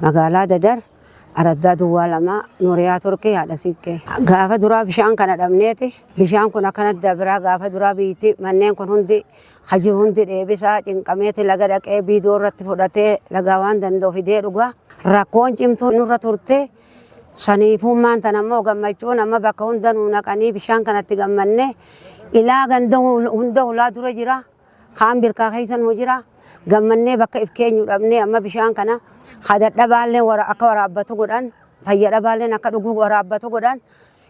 Magaalaa Dadar, Araddaa Duwwaa Lamaa, Nuuriyaa Turkii, Haadha Siiqqee. Gaafa duraa bishaan kana dhabneeti. Bishaan kun akkanatti dabraa gaafa duraa biyyittii manneen kun hundi ka jiru hundi dheebisaa cinqameeti laga dhaqee biidoo irratti fudhatee lagaa waan danda'u fidee dhugaa. Rakkoon cimtuu nurra turte saniifuummaan tan ammoo gammachuun amma bakka hunda nuu naqanii bishaan kanatti gammanne ilaa ganda hunda hulaa dura jira. Kaan birkaa keessa numa jira. Gammannee bakka if keenyu dhabnee amma bishaan kana ka dadhabaalleen wara- akka waraabbatu godhan, fayya dhabaalleen akka dhuguu waraabbatu godhan,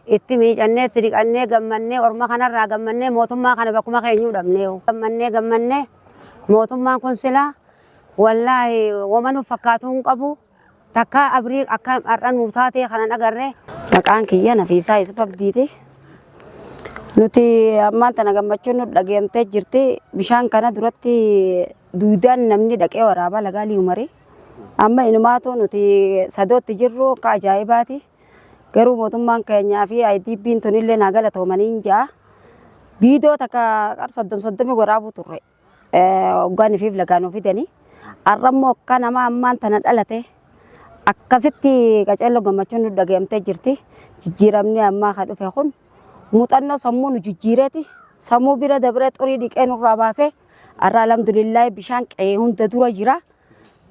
itti miicannee, itti dhiqannee, gammannee, orma kanarraa gammannee, mootummaa kana bakkuma keenyuu dhabnee. Gammannee, gammannee, mootummaan kun silaa wallaahi woma nuuf fakkaatu hin qabu. Takkaa Abrii akka har'a nuu taatee kanan agarre. Maqaan kiyya Nafiisaa Yusuf Abdiiti. Nuti ammaan tana gammachuun nu dhageemtee jirti. Bishaan kana duratti duudaan namni dhaqee waraabaa lagaa liumari. Amma inumaatu nuti sadootti jirru akka ajaa'ibaati. Garuu mootummaan keenyaa fi IDP'n tunillee naa galatoomanii hin ja'a. Biidoo takka qar soddom soddomi waraabuu turre. Hoggaan ifiif lagaan of fidanii har'a immoo akka nama ammaan tana dhalate akkasitti qaceelloo gammachuun nu dhaga'amtee jirti. Jijjiiramni ammaa kan dhufe kun muuxannoo sammuu nu jijjiireeti. Sammuu bira dabree xurii dhiqee nurraa baasee har'a alhamdulillah bishaan qe'ee hunda dura jira.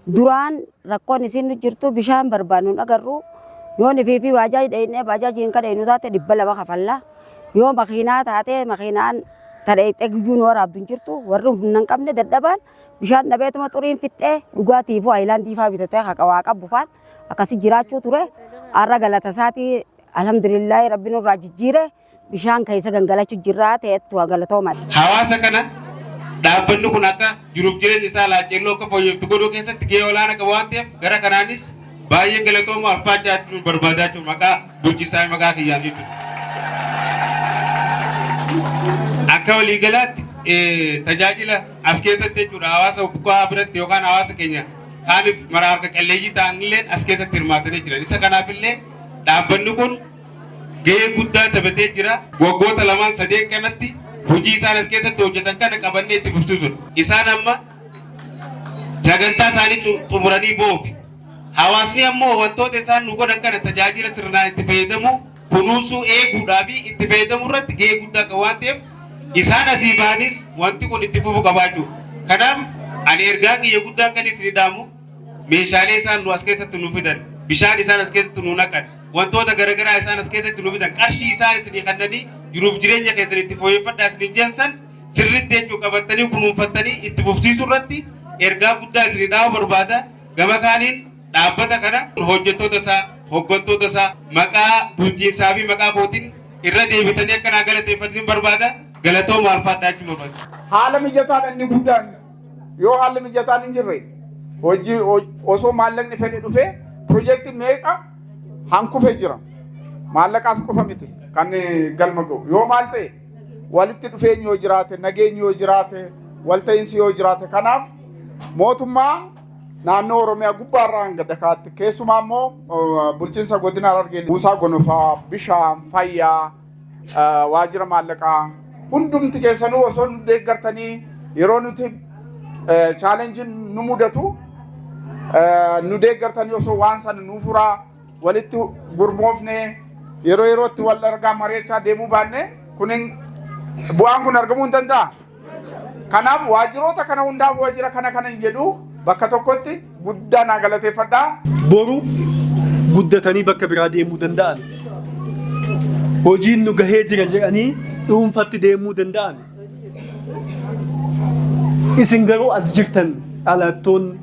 Duraan rakkoon isiin nu jirtu bishaan barbaannu hin agarru. Yoo nifii fi baajaaji dheeynee baajaajiin ka dheeynu taate dhibba lama kafalla. Yoo makiinaa taate makiinaan ta dheeyxee guyyuu nu waraabdu hin jirtu. Warri humna hin qabne dadhabaan bishaan dhabeetuma xuriin fixxee dhugaatiifuu haayilaandii faa bitatee haqa waa qabu faan akkasi jiraachuu ture. Har'a galata isaatii alhamdulillaahi rabbi nurraa jijjiire. bishaan keessa gangalachu jirraa ta'ettu galatoomadha. Hawaasa kana dhaabbanni kun akka jiruuf jireenya isaa Laacceelloo akka fooyyeftu godhuu keessatti gahee olaana qaba waan ta'eef gara kanaanis baay'ee galatoomu alfaachaa jechuun barbaadaa jechuun maqaa bulchisaa maqaa kiyyaan jechuudha. Akka waliigalaatti tajaajila as keessatti jechuudha hawaasa buqqaa biratti yookaan hawaasa keenya kaaniif mara harka qalleeyyii ta'anillee as keessatti hirmaatanii jiran. Isa kanaafillee dhaabbanni kun gahee guddaa taphatee jira. Waggoota lamaan sadeen kanatti hojii isaan as keessatti hojjetan kana qabannee itti fufsiisudha. Isaan amma sagantaa isaanii xu- xumuranii boofi. Hawaasni ammoo wantoota isaan nu godhan kana tajaajila sirnaan itti fayyadamu kunuunsuu eeguudhaa fi itti fayyadamuu irratti gahee guddaa qaba waan ta'eef isaan asii ba'anis wanti kun itti fufu qabaachuu. Kanaaf ani ergaa kiyya guddaa kan isin dhaamu meeshaalee isaan nu as keessatti nu fidan bishaan isaan as keessatti nu naqan wantoota garaagaraa isaan as keessatti nu fidan qarshii isaan isinii kennanii jiruuf jireenya keessan itti fooyyeffadhaa isiniin jensan sirriitti jechuun qabattanii kunuunfattanii itti fufsiisuu irratti ergaa guddaa isinii dhaamuu barbaada gama kaaniin dhaabbata kana hojjettoota isaa hoggantoota isaa maqaa bulchiinsaa fi maqaa kootiin irra deebitanii akka naa galateeffatanii barbaada galatoomaa alfaadhaa jechuun barbaada. haala mijataadha inni guddaan Yoo haalli mijataan hin jirre hojii osoo maallaqni fedhe dhufee pirojekti meeqa hankufe jira. Maallaqaaf qofa miti kan galma ga'u. Yoo maal ta'e walitti dhufeenyi yoo jiraate, nageenyi yoo jiraate, walta'iinsi yoo jiraate kanaaf mootummaa naannoo Oromiyaa gubbaarraa hanga dakaatti keessumaa immoo bulchiinsa godina Harargee buusaa gonofaa, bishaan, fayyaa, waajjira maallaqaa hundumti keessanuu osoo nu deeggartanii yeroo nuti chaalenjiin nu mudatu nu deeggartanii osoo waan sana nu furaa walitti gurmoofne yeroo yerootti wal argaa mari'achaa deemuu baanne kunin bu'aan kun argamuu hin danda'a. Kanaaf waajjiroota kana hundaaf waajjira kana kanan jedhu bakka tokkotti guddaa naa galateeffadha. Boru guddatanii bakka biraa deemuu danda'an. Hojiin nu gahee jira jedhanii dhuunfatti deemuu danda'an. Isin garuu as jirtan dhalattoonni.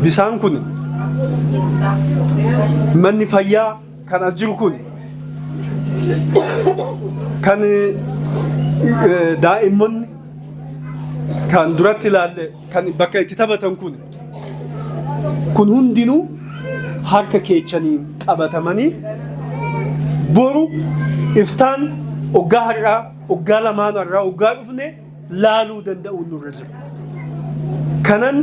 Bisaan kun manni fayyaa Kan as jiru kun kan daa'immanni kan duratti ilaalle kan bakka itti taphatan kun kun hundinuu harka keechaniin qabatamanii boru iftaan oggaa har'aa oggaa lamaan har'aa oggaa dhufne laaluu danda'uun nurra jira. Kanan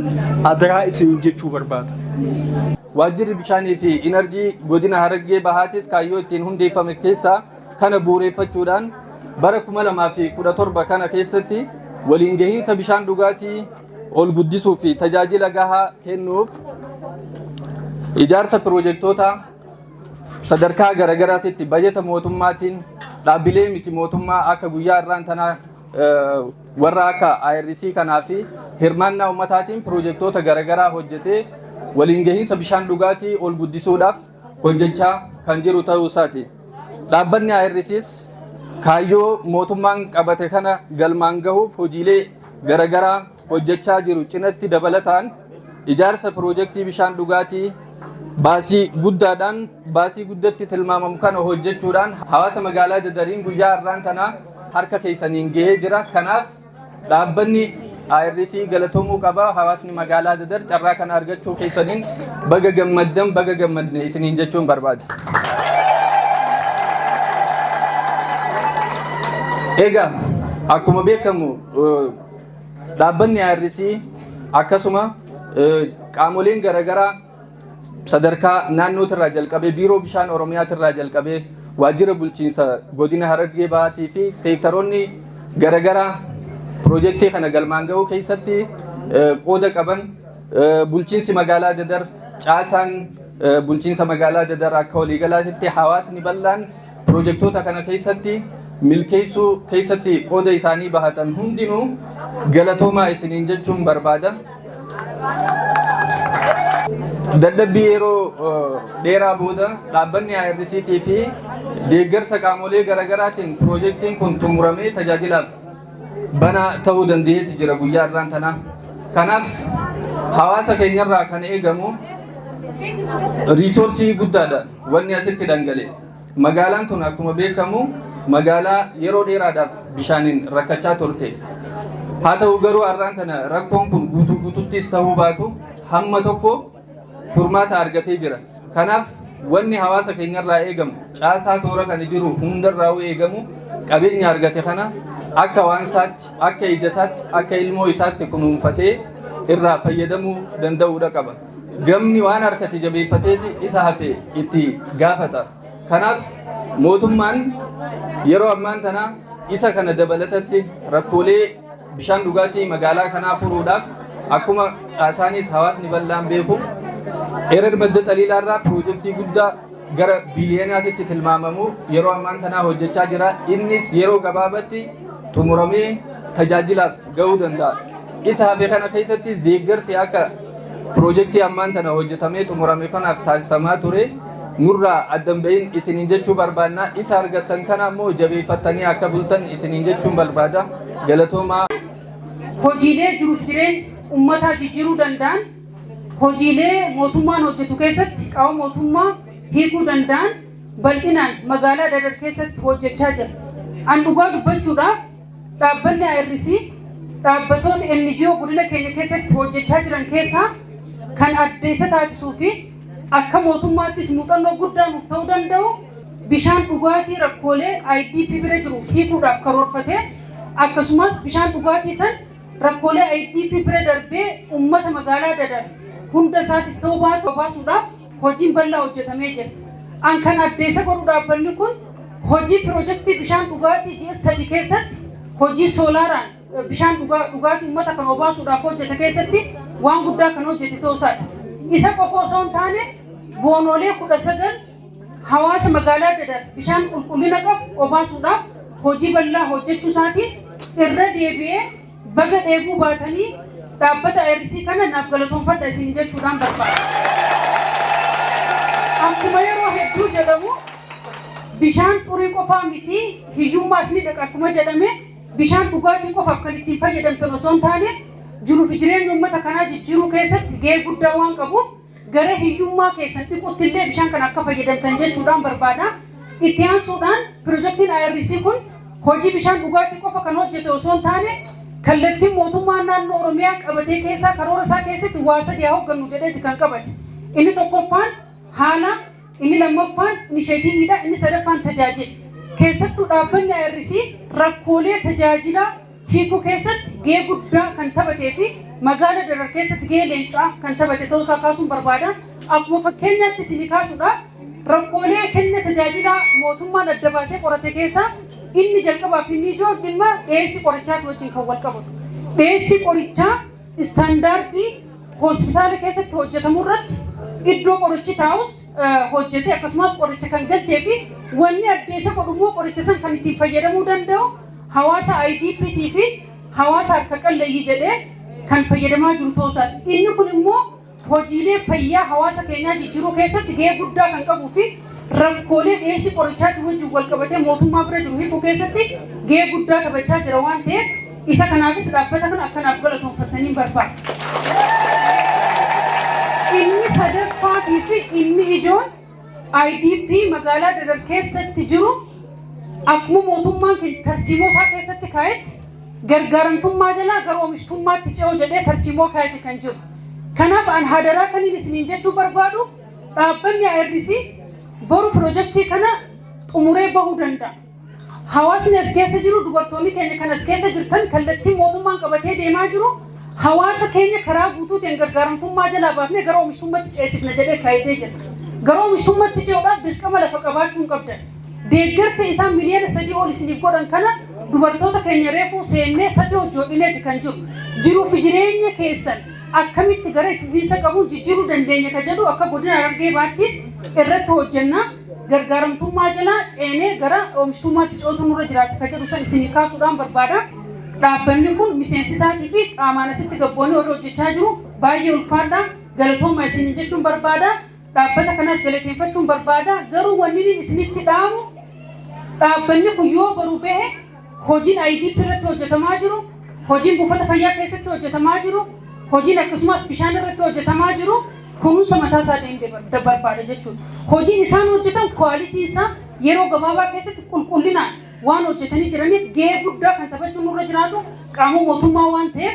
adaraa isin jechuu barbaada. Waajjirri Bishaanii fi Inarjii Godina Harargee Bahaatis kaayyoo ittiin hundeeffame keessaa kana bu'uureffachuudhaan bara 2017 kana keessatti waliin gahiinsa bishaan dhugaatii ol guddisuu fi tajaajila gahaa kennuuf ijaarsa piroojektootaa sadarkaa garaagaraatitti bajata mootummaatiin dhaabbilee miti mootummaa akka guyyaa irraan tanaa warra akka IRC kanaa fi hirmaannaa ummataatiin pirojektoota garaagaraa hojjetee waliin gahiinsa bishaan dhugaatii ol guddisuudhaaf hojjechaa kan jiru ta'uu isaati. Dhaabbanni IRCs kaayyoo mootummaan qabate kana galmaan gahuuf hojiilee garaagaraa hojjechaa jiru cinatti dabalataan ijaarsa pirojektii bishaan dhugaatii baasii guddaadhaan baasii guddatti tilmaamamu kana hojjechuudhaan hawaasa magaalaa Dadariin guyyaa har'aan tanaa harka keessaniin gahee jira. Kanaaf dhaabbanni IRC galatomuu qaba. Hawaasni magaalaa Dadar carraa kana argachuu keessaniin baga gammaddan baga gammadne isiniin jechuun barbaada. Egaa akkuma beekamu dhaabbanni IRC akkasuma qaamoleen garaagaraa sadarkaa naannootirraa jalqabee biiroo bishaan oromiyaatirraa jalqabee waajjira bulchiinsa godina harargee bahaatii fi seektaroonni garagaraa piroojeektii kana galmaan ga'uu keessatti qooda qaban bulchiinsi magaalaa dadar caasaan bulchiinsa magaalaa dadar akka waliigalaatti hawaasni bal'aan Piroojektoota kana keessatti milkeessuu keessatti qooda isaanii bahatan hundinuu galatoomaa isiniin jechuun barbaada. Dadhabbii yeroo dheeraa booda dhaabbanni IRCT fi deeggarsa qaamolee garaagaraatiin piroojektiin kun xumuramee tajaajilaaf banaa ta'uu danda'eeti jira guyyaa irraan tanaa. Kanaaf hawaasa keenyarraa kan eegamu riisoorsii guddaadha. Wanni asitti dhangala'e. Magaalaan tun akkuma beekamu magaalaa yeroo dheeraadhaaf bishaaniin rakkachaa turte. Haa ta'u garuu har'aan tana rakkoon kun guutuu guututtis ta'uu baatu hamma tokko furmaata argatee jira. Kanaaf wanni hawaasa keenyarraa eegamu caasaa toora kana jiru hundarraa eegamu qabeenya argate kana akka waan isaatti akka ija isaatti akka ilmoo isaatti kunuunfatee irraa fayyadamuu danda'uudha qaba. Gamni waan harkatti jabeeffateeti isa hafe itti gaafata. Kanaaf mootummaan yeroo ammaan tana isa kana dabalatatti rakkoolee bishaan dhugaatii magaalaa kanaa furuudhaaf akkuma caasaanis hawaasni bal'aan beeku erer madda xaliilaarraa piroojeektii guddaa gara biiliyonaatitti tilmaamamu yeroo ammaan tanaa hojjechaa jira. Innis yeroo gabaabatti xumuramee tajaajilaaf ga'uu danda'a. Isa hafe kana keessattis deeggarsi akka Piroojektii ammaan tana hojjetamee xumurame kanaaf taasisamaa ture nurraa addan bahin isiniin jechuu barbaanna. Isa argattan kana ammoo jabeeffattanii akka bultan isiniin jechuun barbaada. Galatoomaa. Hojiilee jiruuf jireenya ummataa jijjiiruu danda'an, hojiilee mootummaan hojjetu keessatti qaama mootummaa hiikuu danda'an bal'inaan magaalaa Dadar keessatti hojjechaa jira. An dhugaa dubbachuudhaaf Dhaabbanni IRC dhaabbatoota NGO godina keenya keessatti hojjechaa jiran keessaa kan adda isa taasisuu fi akka mootummaattis muuxannoo guddaa nuuf ta'uu danda'u bishaan dhugaatii rakkoolee IDP bira jiru hiikuudhaaf karoorfatee akkasumas bishaan dhugaatii san rakkoolee IDP bira darbee uummata magaalaa dadar hunda isaatis ta'uu baatu baasuudhaaf Hojiin bal'aa hojjetamee jira. An kan addeessa godhu dhaabbanni kun hojii pirojektii bishaan dhugaatii ji'a sadi keessatti hojii soolaaraan bishaan dhugaatii uummata kan obaasuudhaaf hojjete keessatti waan guddaa kan hojjete ta'uusaati. Isa qofa osoo hin taane boonoolee kudha sagal hawaasa magaalaa dadar bishaan qulqullina qabu obaasuudhaaf hojii bal'aa hojjechuu isaatiin irra deebi'ee Baga dheebuu baatanii dhaabbata IRC kana naaf galatoomfadha isin jechuudhaan barbaada. Akkuma yeroo hedduu jedhamu bishaan xurii qofaa miti hiyyummaas ni dhaqa akkuma jedhame bishaan dhugaatii qofaaf kan ittiin fayyadamtan osoo hin taane jiruu fi jireenya uummata kanaa jijjiiruu keessatti gahee guddaa waan qabuuf gara hiyyummaa keessan dhiqutti illee bishaan kana akka fayyadamtan jechuudhaan barbaada. Itti aansuudhaan pirojektiin IRC kun hojii bishaan dhugaatii qofa kan hojjete osoo hin taane kallattiin mootummaa naannoo Oromiyaa qabatee keessaa karoora isaa keessatti waa sadii haa hooggannu jedheeti kan qabate. Inni tokkoffaan haala, inni lammaffaan inisheetiiviidha, inni sadaffaan tajaajila. Keessattuu dhaabbanni IRC rakkoolee tajaajilaa hiikuu keessatti gahee guddaa kan taphatee fi magaala Darar keessatti gahee leencaa kan taphate ta'uu isaa kaasuun barbaada. Akkuma fakkeenyaatti isinii kaasuudhaaf rakkoolee kenna tajaajilaa mootummaan adda baasee qorate keessaa inni jalqabaa fi inni ijoon dhimma dhiyeessii qorichaatti wajjin kan wal qabatu. Dhiyeessii qorichaa istaandaardii hospitaala keessatti hojjetamu irratti iddoo qorichi taa'us hojjetee akkasumas qoricha kan galchee fi wanni addeessa godhu immoo qoricha san kan ittiin fayyadamuu danda'u hawaasa IDPT fi hawaasa harka qalleeyyii jedhee kan fayyadamaa jiru ta'uusaa inni kun immoo hojiilee fayyaa hawaasa keenyaa jijjiiruu keessatti gahee guddaa kan qabuu fi rakkoolee dhiyeessii qorichaatiin wajjin wal qabatee mootummaa bira jiru hiikuu keessatti gahee guddaa taphachaa jira waan ta'eef Isa kanaafis dhaabbata kana akka naaf galatoomfattaniin barbaada. Inni sadaffaatii fi inni ijoon IDP magaalaa Dadar keessatti jiru akkuma mootummaan keenya tarsiimoo isaa keessatti kaa'etti gargaaramtummaa jalaa gara oomishtummaatti ce'u jedhee tarsiimoo kaa'etti kan jiru. Kanaaf an hadaraa kaniin isiniin jechuu barbaadu dhaabbanni IRC boru pirojektii kana xumuree bahuu danda'a. Hawaasni as keessa jiru dubartoonni keenya kan as keessa jirtan kallattiin mootummaan qabatee deemaa jiru hawaasa keenya karaa guutuutiin gargaaramtummaa jalaa baafnee gara oomishtummaatti ceesifna jedhee kaayitee jira. Gara oomishtummaatti ce'uudhaaf dirqama lafa qabaachuu hin qabdan. Deeggarsa isaan miliyoona sadii ol isiniif godhan kana dubartoota keenya reefuu seennee safii hojjoodhineeti kan jiru. Jiruuf jireenya keessan akkamitti gara itti fufiinsa qabuun jijjiiruu dandeenya ka jedhu akka godina Harargee baattis irratti hojjennaa. gargaaramtummaa jala ceenee gara oomishtummaatti ce'uutu nurra jiraata kan jedhu san isinii kaasuudhaan barbaada. Dhaabbanni kun miseensi isaatii fi qaamaan asitti gabboonni warri hojjechaa jiru baay'ee ulfaadha. Galatooma isin jechuun barbaada. Dhaabbata kanas galateeffachuun barbaada. Garuu wanni inni isinitti dhaamu dhaabbanni kun yoo baru bahe Hojiin IDP irratti hojjetamaa jiru, hojiin buufata fayyaa keessatti hojjetamaa jiru, hojiin akkasumas bishaan irratti hojjetamaa jiru kunuunsa mataa isaa deemte barbaada jechuudha. Hojiin isaan hojjetan kwaalitiin isaa yeroo gabaabaa keessatti qulqullinaan waan hojjetanii jiraniif gahee guddaa kan taphachuun nurra jiraatu qaama mootummaa waan ta'eef